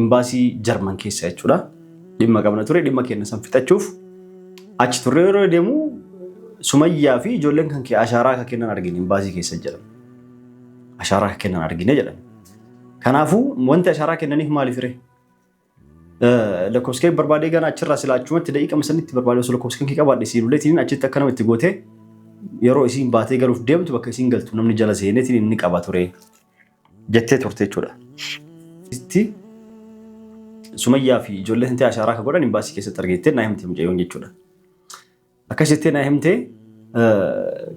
Imbaasii Jarman keessa jechuudha. Dhimma qabna ture. Dhimma keenya san fixachuuf achi turre yeroo deemu Sumayyaa fi ijoolleen kan kee ashaaraa akka kennan argine imbaasii keessa jedhan. Ashaaraa akka kennan argine jedhan. Kanaafuu wanti ashaaraa kennaniif maaliif ree? Lakkoofskee barbaadee gana achirraa silaa achumatti daqiiqama sanitti barbaadee osoo lakkoofskee kee qabaadhe siin uleetiin achitti akka namatti gootee yeroo isiin baatee galuuf deemtu bakka isiin galtu namni jala seeneetiin inni qaba ture. jettee turte jechuudha. Itti Sumayyaa fi ijoollee hintee ashaaraa akka godhan imbaasii keessatti argeettee naa himte mucayyoon jechuudha. Akkas jettee naa himte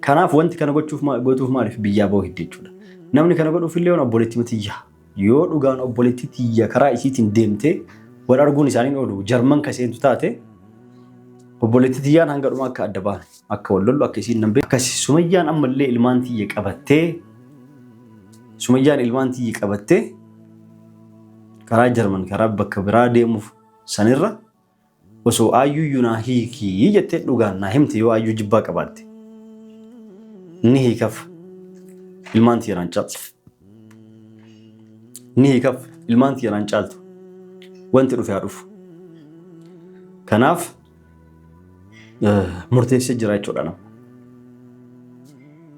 kanaaf wanti kana gochuuf gootuuf maaliif biyyaa ba'uu hidde jechuudha. Namni kana godhuuf illee waan obboleettii matiyya yoo dhugaan obboleettii tiyya karaa isiitiin deemtee wal arguun isaanii oolu jarman ka seentu taate obboleettii tiyyaan hanga dhumaa akka adda baane. Akka wal lollu akka isiin nan beeku. Akkasi Sumayyaan ammallee ilmaan tiyya qabattee Sumayyaan ilmaan tiyya qabattee karaa Jarman karaa bakka biraa deemuuf sanirra osoo aayyuyyuu naa hiikii jettee dhugaan naa himte yoo aayyuu jibbaa qabaatte ni hiikaf ilmaan tiyya naan caaltu ni hiikaf ilmaan tiyya naan caaltu wanti dhufe haa dhufu kanaaf murteessee jira jechuudha nama.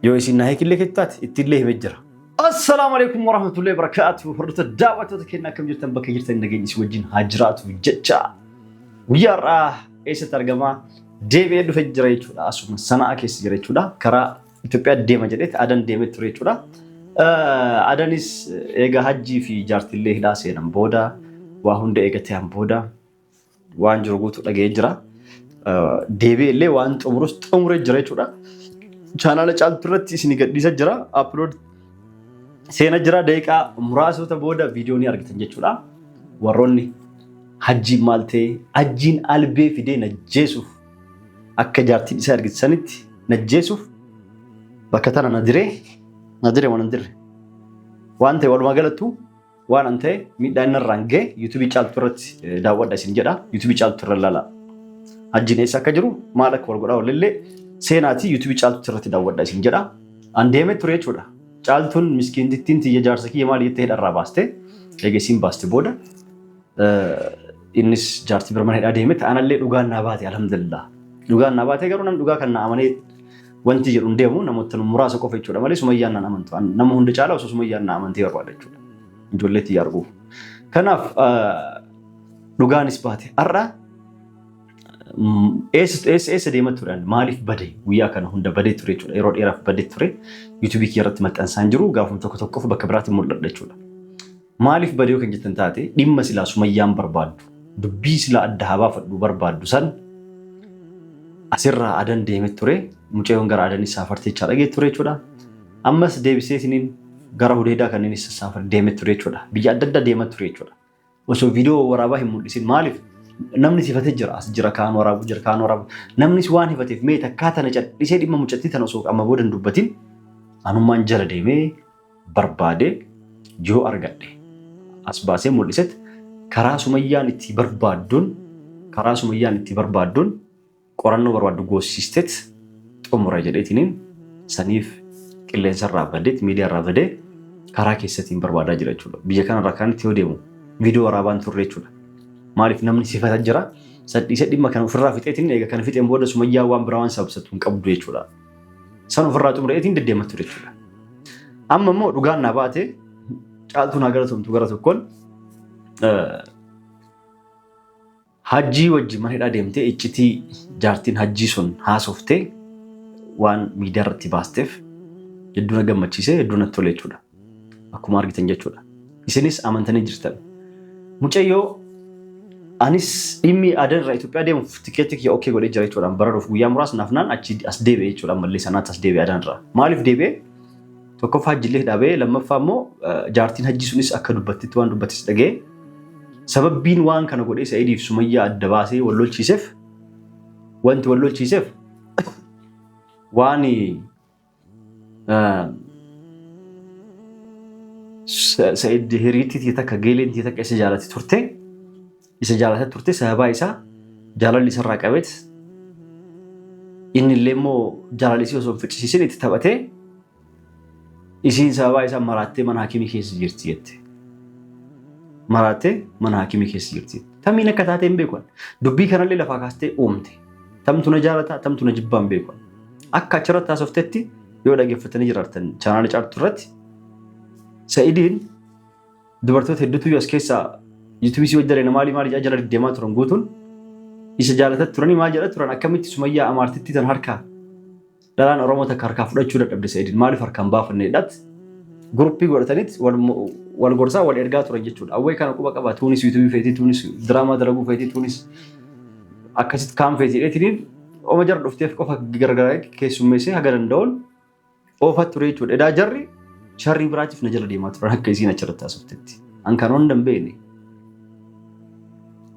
Yoo isin naa hiikillee keetti taate ittiillee himee jira. Assalaamu alaikum warahmatullahi wabarakatuh. Hordoftoota daawwattoota keenya akkam jirtan bakka jirtan nageenyi isin wajjin haa jiraatu jecha guyyaa har'aa eessatti argama deebi'ee dhufe jira jechuudha. Asuma sanaa keessa jira jechuudha. Karaa Itoophiyaa deema jedhetti adan deemee ture jechuudha. Adanis eega hajjii fi jaartillee hidhaa seenan booda waa hunda eegatee an booda waan jiru guutuu dhaga'ee jira. Deebi'ee illee waan xumurus xumuree jira jechuudha. Chaanaala caaltuu irratti isin gadhiisa jira. Upload seena jira daqiiqaa muraasota booda viidiyoo ni argitan jechuudha. Warroonni hajjiin maal ta'e hajjiin albee fidee najjeesuuf akka jaartiin isaa argisiisanitti najjeesuuf bakka tana na diree na diree waan hin dirre waan ta'e walumaa galattuu Waan an ta'e miidhaa inni irraan ga'e yuutuubii caaltuu irratti daawwadha isin jedha. Yuutuubii caaltuu irra ilaala. Hajjiin eessa akka jiru maal akka wal godhaa walillee seenaatii yuutuubii caaltuu irratti daawwadha isin jedha. An deemee ture jechuudha. Caaltuun miskiintittiin tiyya jaarsa kiyya maal jettee hidharraa baaste. Egaa isiin baaste booda innis jaartii bira mana hidhaa deemetti anallee dhugaan naa baate alhamdulillah. Dhugaan naa baate garuu nam dhugaa kan naa amanee Wanti jedhu hin deemu namoota muraasa qofa jechuudha malee sumayyaan naan amantu. Nama hunda caala osoo sumayyaan naa amantee barbaada jechuudha. Ijoollee itti arguuf. Kanaaf dhugaanis baate har'a eessa deema turan maaliif bade guyyaa kana hunda badee ture jechuudha yeroo dheeraaf badee ture yuutuubii kiyya irratti maxxansaan jiru gaafuma tokko tokkoof bakka biraatti mul'adha jechuudha. Maaliif bade yoo kan jettan taate dhimma silaa sumayyaan barbaaddu dubbii silaa adda haa baafadhu barbaaddu san asirraa adan deemee ture mucayyoon gara adan saafartee jechaa dhagee ture jechuudha. Ammas deebisee isiniin gara hudeedaa kan inni saafar deemee ture jechuudha. Biyya adda addaa deemaa ture jechuudha. Osoo viidiyoo waraabaa hin mul'isin maaliif namni sifatee jira as jira kaan waraabuu jira kaan waraabuu namnis waan hifateef mee takkaa tana cadhisee dhimma mucattii tana osoo amma booda hin dubbatin anummaan jala deemee barbaadee yoo argadhe as baasee mul'iset karaa sumayyaan itti barbaadduun karaa sumayyaan itti barbaadduun qorannoo barbaaddu goossisteet xumura jedheetiniin saniif qilleensa irraa badeet miidiyaa irraa badee karaa keessatiin barbaadaa jira jechuudha. Biyya kana irraa kanatti yoo deemu viidiyoo waraabaan turre jechuudha. Maaliif namni sifata jira sadhiisee dhimma kana ofirraa fixeetiin eega kana fixeen booda sumayyaa waan biraa waan sababsatu hin qabdu jechuudha. San ofirraa xumureetiin deddeemaa ture jechuudha. Amma immoo dhugaan naa baate caaltuu naa galatomtu gara tokkoon hajjii wajji mana hidhaa deemtee iccitii jaartiin hajjii sun haasoftee waan miidiyaa irratti baasteef hedduu na gammachiisee hedduu natti tole jechuudha. Akkuma argitan jechuudha. Isinis amantanii jirtan. Mucayyoo anis dhimmi adan irraa Itoophiyaa deemuuf tikeetti kiyya okkee godhee jira jechuudha. Bararuuf guyyaa muraas naaf naan achi as deebi'e jechuudha. Ammallee sanaatti as deebi'e adan irraa. Maaliif deebi'e? Tokkoffaa hajjillee dhaabee lammaffaa immoo jaartiin hajjii sunis akka dubbattitti waan dubbattis dhaga'e. Sababbiin waan kana godhee Sa'idiif Sumayyaa adda baasee wal lolchiiseef wanti wal lolchiiseef waan Sa'id hiriitti takka geeleen takka isa jaalatti turte isa jaalatti turte sababaa isaa jaalalli isarraa qabeet inni illee immoo jaalalli isii osoo hin ficcisiisin itti taphatee isiin sababaa isaa maraattee mana hakimii keessa jirti jette. Maraattee mana hakimii keessa jirti. Tamiin akka taatee hin beekan. Dubbii kanallee lafaa kaastee uumte. Tamtu na jaalataa tamtu na jibbaa hin beekan. Akka achirratti haasoftetti yoo dhaggeeffatanii jiraatan chaanaala caartuu irratti Sa'idiin dubartoota hedduutu as keessaa yuutuubii si hojjaleena maali maali jedha jala deddeemaa turan guutuun isa jaalatat turanii maal jedha turan akkamitti sumayyaa amaartitti tan harkaa dhalaan Oromoo takka harkaa fudhachuu dadhabde Sa'idiin maaliif harkaan baafanne jedhat guruppii godhataniit wal gorsaa wal ergaa turan jechuudha. Awwee kana quba qaba tuunis yuutuubii feetii tuunis diraamaa dalaguu feetii tuunis akkasitti kaan feetii dheetiniin Oma jar dhufteef qofa gargaraa keessummeessee haga danda'uun oofaa ture jechuudha. Edaa jarri sharrii biraatiif na jala deemaa turan akka isiin achirratti haasoftetti. An kan hunda hin beekne.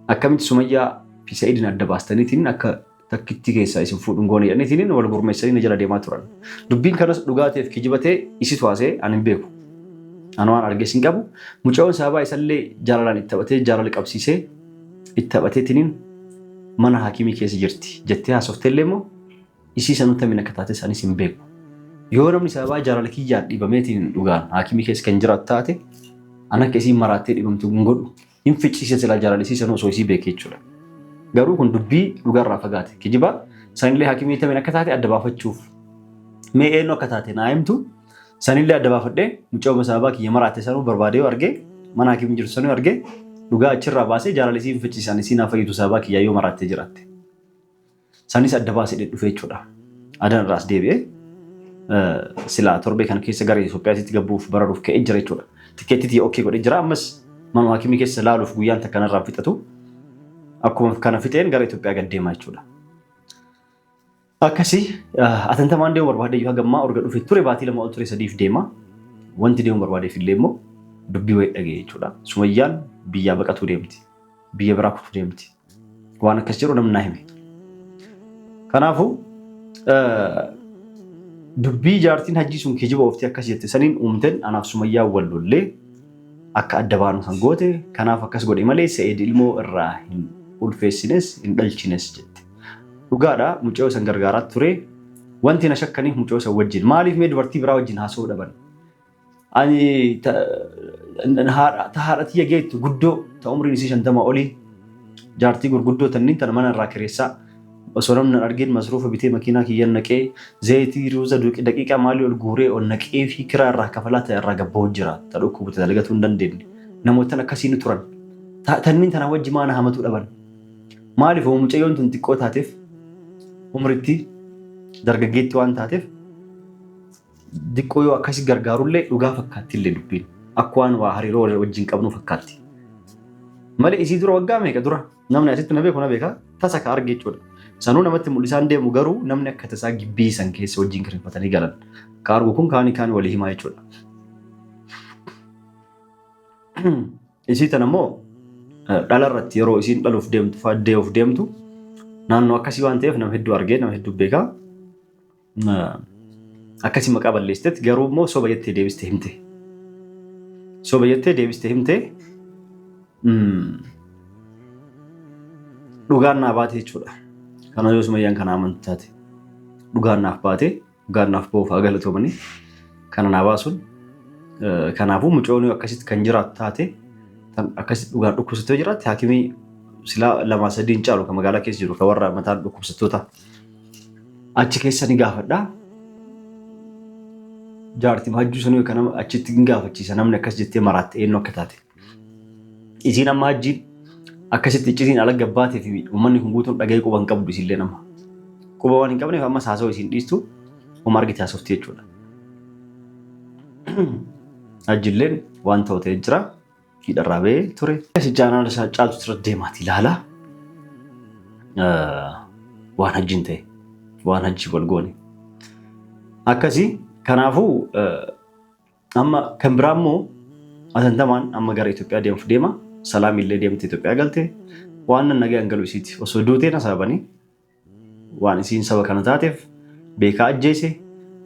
Akkamitti Sumayyaa fi Sa'idin adda baastaniitiin akka takkittii keessaa isin fuudhuun goone jedhaniitiin wal gurmeessanii na jala deemaa turan. Dubbiin kanas dhugaa ta'eef kijiba ta'e isitu haasee an hin beeku. An waan argees hin qabu. Mucayoon sababaa isallee jaalalaan itti taphatee jaalala qabsiisee itti taphateetiniin mana haakimii keessa jirti jettee haasofteellee immoo isii sanuu tamiin akka taates anis hin beeku. Yoo namni sababaa jaalala kiyyaan dhibameetiin dhugaan haakimii keessa kan jiraatu taate an akka isiin maraattee dhibamtu hin godhu hin ficcisiisa silaa jaalala isii sanuu osoo isii beekee jechuudha. Garuu kun dubbii dhugaarraa fagaate kijibaa sanillee haakimii tamiin akka taate adda baafachuuf mee eenyu akka taate naa himtu Sanillee adda baafadhee mucaa obboleessa abbaa kiyya maraatte sanuu barbaadee yoo arge mana hakiimni jirtu sanuu arge dhugaa achirraa baasee jaalala isiin fichiisaan isiin haa fayyitu sababaa kiyyaa yoo maraattee jiraatte. Sanis adda baasee dhufee jechuudha. Adan irraa as deebi'ee silaa torbee kana keessa gara Itoophiyaatti gabbuuf bararuuf ka'ee jira jechuudha. Tikkeettii tiyya okkee godhee jira ammas manuma hakiimni keessa laaluuf guyyaan takka narraa fixatu akkuma kana fixeen gara Itoophiyaa gad deemaa jechuudha. Akkasi atantamaan deemu barbaadee yoo hagammaa urga dhufe ture baatii lama ol ture sadiif deema. Wanti deemu barbaadeef illee immoo dubbii wayii dhaga'e jechuudha. Sumayyaan biyyaa baqatuu deemti. Biyya biraa kutuu deemti. Waan akkas jedhu namni naa hime. Kanaafuu dubbii jaartiin hajjii sun kijiba ooftii akkas jette saniin uumteen anaaf sumayyaa wal lollee akka adda baanu kan goote kanaaf akkas godhe malee se'eed ilmoo irraa hin ulfeessines hin dhalchines jette. Dhugaadha mucayyoo san gargaaraa ture. Wanti na shakkaniif mucayyoo san wajjin. Maaliif mee dubartii biraa wajjin haasa'uu dhaban? Ani ta haadha ta haadha tiyya geettu guddoo ta umriin isii shantama olii jaartii gurguddoo tanniin tana mana irraa kireessaa osoo namni hin argin masruufa bitee makiinaa kiyyan naqee zayitii ruuza duqi- daqiiqaa maalii ol guuree ol naqee fi kiraa irraa kafalaa ta irraa gabba'u jira ta dhukkubu ta dalagatuu hin dandeenye namoottan akkasii ni turan Ta- tanniin tana wajji maana hamatuu dhaban Maaliif hoo mucayyoon tun xiqqoo taateef umritti dargaggeetti waan taateef diqqoo yoo akkasi gargaarullee dhugaa fakkaatti illee dubbiin akka waan waa hariiroo wal- wajjin qabnuu fakkaatti. Malee isii dura waggaa meeqa dura namni asitti na beeku na beeka tasa ka arge jechuudha. Sanuu namatti mul'isaan deemu garuu namni akka tasaa gibbii san keessa wajjin kireeffatanii galan. Ka argu kun kaanii kaanii walii himaa jechuudha. Isii tana immoo dhala irratti yeroo isiin dhaluuf deemtu fa'aa dee'uuf deemtu naannoo akkasii waan ta'eef nama hedduu argee nama hedduu beekaa akkasii maqaa balleessitetti garuu immoo soba jettee deebiste himte. Soba jettee deebiste himte dhugaan naa baate jechuudha. Kana yoo sumayyaan kana amantu taate dhugaan naaf baate Gaannaaf boofaa galatoomanii kana naa baasuun kanaafuu mucoonii akkasitti kan jiraatu taate kan akkasitti dhugaan dhukkubsattee yoo jiraatte haakimii silaa lamaa sadii hin caalu kan magaalaa keessa jiru kan warra mataan dhukkubsattoota achi keessa ni gaafadha. Jaartii maajjuu sanuu kan achitti hin gaafachiisa namni akkas jettee maraatte eenyu akka taate. Isiin amma hajjiin akkasitti iccitiin ala gabbaatee fi uummanni kun guutuun dhaga'ee quba hin qabdu isillee nama. Quba waan hin qabneef ammas haasawaa isiin dhiistu uma argite haasofti jechuudha. Hajjilleen waan ta'u ta'ee jira. Hidharraa ba'ee ture. Asi jaanaan isaa caaltu irra deemaati ilaala. Waan hajjiin ta'e waan hajjii wal goone. Akkasii kanaafuu Amma kan biraa immoo atantamaan amma gara Itoophiyaa deemuuf deema. Salaamii illee deemte Itoophiyaa galte. Waan nan nagaan galu isiiti. Osoo duutee na sababanii waan isiin saba kana taateef beekaa ajjeese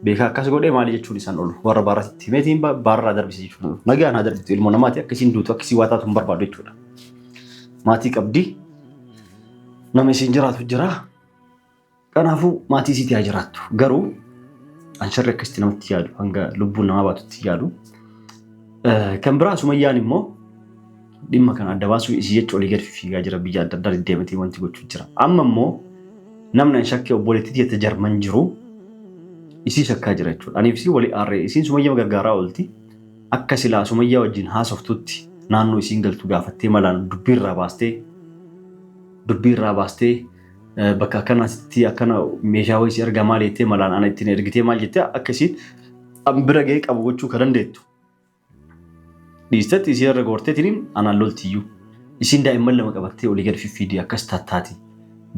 beekaa akkas godhee maali jechuun isaan oolu. Warra baarratti himeetiin baarraa darbise jechuun oolu. Nagaan haa darbitu ilmoo namaati akka isiin duutu akka isiin waa taatu hin barbaadu jechuudha. Maatii qabdi. Nama isiin jiraatu jira. Kanaafuu maatii isiitii haa jiraattu. Garuu an sharri akkasitti namatti yaadu hanga lubbuun namaa baatutti yaadu. Eh, Kan biraa sumayyaan immoo dhimma kana adda baasuu isii jecha olii gad fiigaa jira biyya adda addaa deddeematee wanti gochuu jira. Amma immoo namni an shakkee obboleettii jette jarman jiru isii shakkaa jira jechuudha. Aniif isii walii aarree isiin sumayyama gargaaraa oolti. Akka silaa sumayyaa wajjin haasoftutti naannoo isiin galtu gaafattee malaan dubbii irraa baastee dubbii irraa baastee bakka akkanatti akkana meeshaa wayii si erga maal jettee malaan ana ittiin ergitee maal jettee akka isiin an bira ga'ee qabu gochuu ka dandeettu. Dhiistatti isii irra goorteetiin anaan loltiyyuu. Isiin daa'imman lama qabattee olii gad fiffiidii akkas tattaati.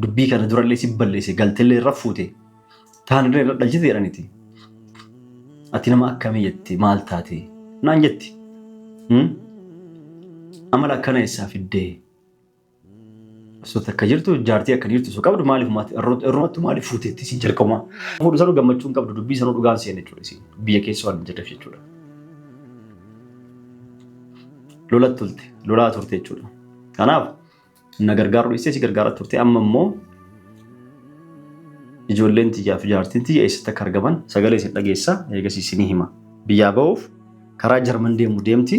Dubbii kana durallee si balleesse galtellee irra fuute. Taanillee irra dhalchite jedhaniti. Ati nama akkamii jette maal taate naan jetti. Amala akkana eessaa fiddee Osoo takka jirtu jaartii akka dhiirtu osoo qabdu maaliif maati irrumattu maaliif fuuteetti isin jalqabumaa. Fuudhu sanuu gammachuu hin qabdu dubbii sanuu dhugaan seenne jechuudha isin biyya keessa waan hin jirreef jechuudha. Lola tulte lolaa turte jechuudha. Kanaaf na gargaaruu dhiistee si gargaaraa turte amma immoo ijoolleen tiyyaa fi jaartiin tiyya eessatti akka argaman sagalee isin dhageessa eegas isinii hima. Biyyaa ba'uuf karaa Jarman deemu deemti.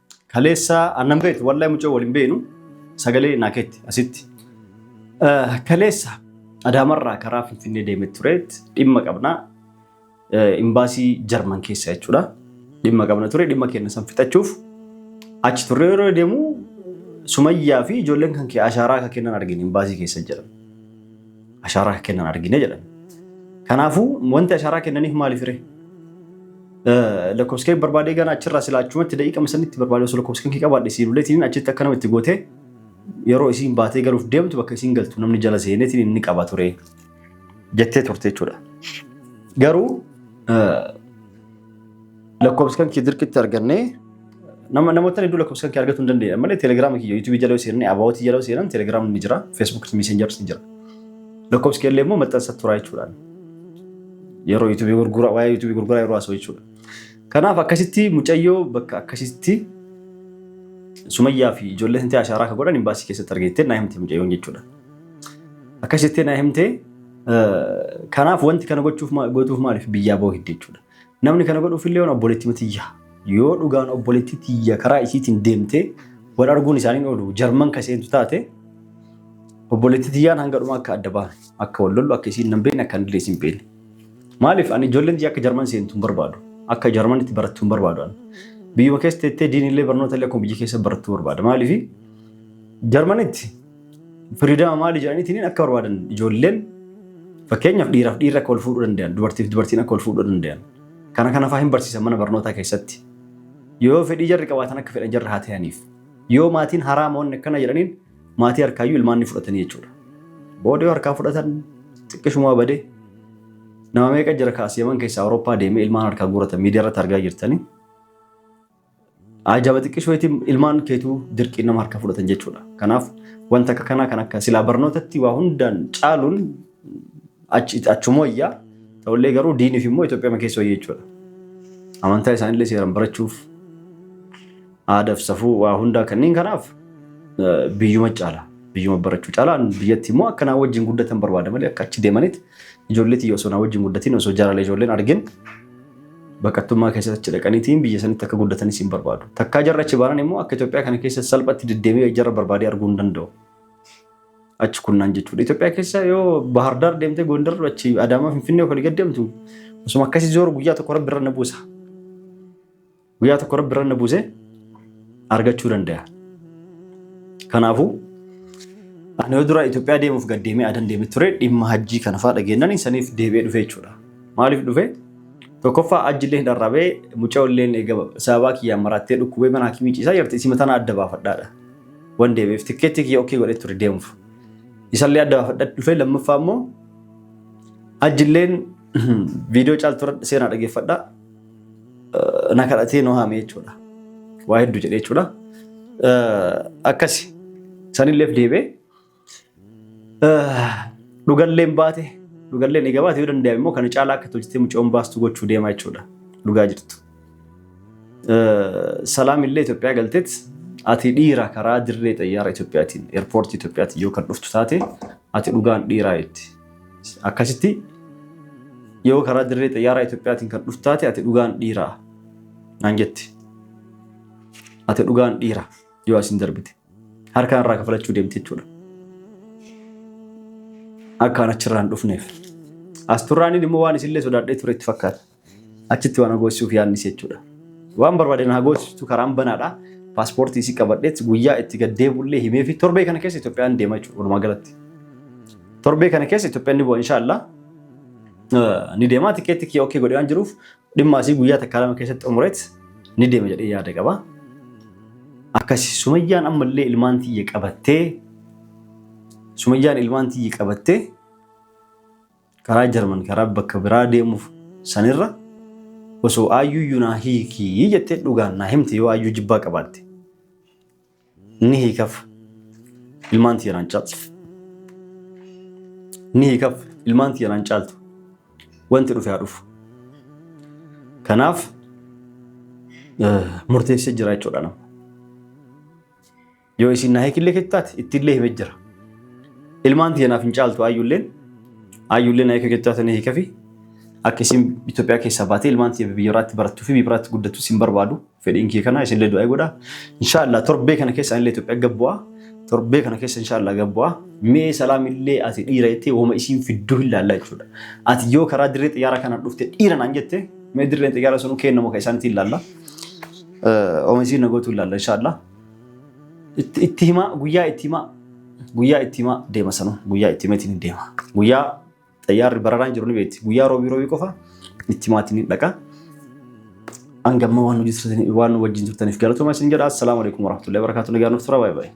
Kaleessa annan beektu wallahi mucoo waliin beenu sagalee naa keetti asitti. Kaleessa Adaamarraa karaa Finfinnee deemee tureet dhimma qabna imbaasii Jarman keessa jechuudha. Dhimma qabna ture dhimma keenya san fixachuuf achi turre yeroo deemu Sumayyaa fi ijoolleen kan kee ashaaraa akka kennan argine imbaasii keessa jedhan. ashaaraa akka kennan argine jedhan. Kanaafuu wanti ashaaraa kennaniif maaliif ree? Lakkoofskee barbaadee ganaa achirraa silaa achumatti daqiiqama sanitti barbaadee osoo lakkoofskeen kee qabaadhe siin uleetiin achitti akka nama itti gootee yeroo isiin baatee galuuf deemtu bakka isiin galtu namni jala seeneetiin inni qaba ture jettee turte jechuudha. Garuu Lakkoofsi kan kee dirqitti argannee nama namoota hedduu lakkoofsi kan kee argatu hin dandeenye malee telegiraama kiyya yuutuubii jala yoo seenan abaawootii jala yoo seenan telegiraamni ni jira feesbuukii miisenjars ni jira. Lakkoofsi kee illee immoo maxxansa turaa jechuudhaan yeroo yuutuubii gurguraa waa'ee yuutuubii gurguraa yeroo haasa'u jechuudha. Kanaaf akkasitti mucayyoo bakka akkasitti sumayyaa fi ijoollee santee ashaaraa akka godhan imbaasii keessatti argeettee naa himte mucayyoon jechuudha. Akkasitti naa himte kanaaf wanti kana gochuuf gootuuf maaliif biyyaa ba'uu hidde jechuudha. Namni kana godhuufillee waan obboleettii tiyya. Yoo dhugaan obboleettii tiyya karaa isiitiin deemtee wal arguun isaanii hin oolu. Jarman ka seentu taate obboleettii tiyyaan hanga dhumaa akka adda baanu akka wal lollu akka isiin nan beekne akka anillee isin beekne. Maaliif ani ijoolleen tiyya akka jarman seentu hin barbaadu. Akka jarman itti barattu hin barbaadu ani. Biyyuma keessa teettee diinillee barnoota illee akkuma biyya keessa barattuu barbaada. Maaliif jarmanitti Firiidama maali jedhaniitiin akka barbaadan ijoolleen fakkeenyaaf dhiiraaf dhiirri akka wal fuudhuu danda'an dubartiif dubartiin akka wal fuudhuu danda'an kana kana fa'aa hin barsiisan mana barnootaa keessatti yoo fedhii jarri qabaatan akka fedhan jarri haa ta'aniif yoo maatiin haraa moonni akkana jedhaniin maatii harkaayyuu ilmaan ni fudhatanii jechuudha. Booda yoo harkaa fudhatan xiqqishumaa badee nama meeqa jira kaas yaman keessaa Awurooppaa deemee ilmaan harkaa guuratan miidiyaa irratti argaa jirtanii Ajaba xiqqishoo itti ilmaan keetuu dirqiin nama harka fudhatan jechuudha. Kanaaf wanta akka kanaa kan akka silaa barnootatti waa hundaan caaluun achuma wayyaa ta'ullee garuu diiniif immoo Itoophiyaa keessa wayya jechuudha. Amantaa isaanillee seeraan barachuuf aadaaf safuu waa hundaa kanneen kanaaf biyyuma caala. Biyyuma barachuu caalaan biyyatti immoo akka naa wajjin guddatan barbaada malee akka achi deemanitti ijoollee tiyya osoo naa wajjin guddatiin osoo jaalala ijoolleen argin baqattummaa keessatti achi dhaqaniitiin biyya sanitti akka guddatanis hin barbaadu. Takkaa jarri achi baanan immoo akka Itoophiyaa kana keessa salphatti deddeebi'ee jarra barbaadee arguu hin danda'u. Achi kunnaan jechuudha. Itoophiyaa keessa yoo Bahar Daar deemtee Gondar achi Adaamaa Finfinnee olii gad deemtu osuma akkasii zooru guyyaa tokko rabbi irra na buusa. Guyyaa tokko rabbi irra na buusee argachuu danda'a. Kanaafuu ani yoo duraa Itoophiyaa deemuuf gad deemee adan deemee ture dhimma hajjii kana fa'aa dhageenyaan saniif deebi'ee dhufee jechuudha. Maaliif dhufee? Tokkoffaa hajji illee dharrabee mucaa illee eegama sababaa kiyyaan maraattee dhukkubee mana hakimii ciisaa jirti isima tana adda baafadhaadha. Wan deebi'eef tikkeetti kiyya okkee godhee ture deemuuf. Isallee adda baafadhaa dhufee lammaffaa immoo hajji illee viidiyoo caaltuu seenaa dhageeffadhaa. na kadhatee nu haame jechuudha. Waa hedduu jedhe jechuudha. Akkasi sanilleef deebee dhugalleen baate dhugalleen egaa baate yoo danda'ame immoo kana caalaa akka tolchitee mucoon baastu gochuu deemaa jechuudha. Dhugaa jirtu. Salaam illee Itoophiyaa galteet ati dhiira karaa dirree xayyaara Itoophiyaatiin eerpoortii Itoophiyaatiin yoo kan dhuftu taate ati dhugaan dhiiraa jetti. Akkasitti yoo karaa dirree xiyyaaraa Itoophiyaatiin kan dhuftaate ati dhugaan dhiiraa naan jetti. Ati dhugaan dhiira yoo asin darbite harkaan irraa kafalachuu deemte jechuudha. Akkaan achirraan dhufneef. As turraaniin immoo waan isillee sodaadhee ture itti fakkaata. achitti waan agoosisuuf yaadnis jechuudha. Waan barbaadeen agoosistu karaan banaadha. Paaspoortii isii qabadheetti guyyaa itti gad deebi'ullee himee fi torbee kana keessa Itoophiyaan deema jechuudha walumaa galatti. Torbee kana keessa Itoophiyaan ni bu'a inshaallah. Ni deema tikeetti kiyya okkee godhee waan jiruuf dhimma asii guyyaa takkaa lama keessatti xumureet ni deema jedhee yaada qaba. Akkasi sumayyaan ammallee ilmaan tiyya qabattee sumayyaan ilmaan tiyya qabattee Karaa Jarman karaa bakka biraa deemuuf sanirra osoo Ayyuuyyu naa hiiki jettee dhugaan naa himte yoo Ayyuu jibbaa qabaatte ni hiikaf ilmaan tiyyaraan caaltu. Ni hiikaf ilmaan tiyyaraan caaltu wanti dhufe haa dhufu. Kanaaf murteessee jira jechuudha nama. Yoo isin na hekillee keetu taate ittillee hime jira. Ilmaan tiyya naaf hin caaltu ayyulleen ayyullee na hekee keetu taate na hikafi akka isin Itoophiyaa keessaa baatee ilmaan tiyya biyya irraatti barattuu fi biyya biraatti guddattu isin barbaadu fedhiin kiyya kana isinillee du'aa godha. Inshaallah torbee kana keessa anillee Itoophiyaa gabbu'aa torbee kana keessa inshaallah gabbu'aa mee salaamillee ati dhiira jettee woma isiin fidduu hin laallaa jechuudha. Ati yoo karaa dirree xiyyaara kanaan dhufte dhiira naan jette mee dirreen xiyyaara sunuu keennamu kan isaaniitiin laalla. Woma isiin nagootu hin laalla inshaallah. Itti itti himaa guyyaa itti himaa guyyaa itti himaa deema sanuu guyyaa itti himeetiin hin deema. Guyyaa xayyaarri bararaan jiru ni beekti. Guyyaa roobii roobii qofa itti himaatiin hin dhaqa. Hangamma waan hojii turtanii waan wajjin turtaniif galatoomaa isin jedha. Assalaamu alaikum warahmatullahi wabarakatuh. Nagaan nuuf tura baay'ee baay'ee.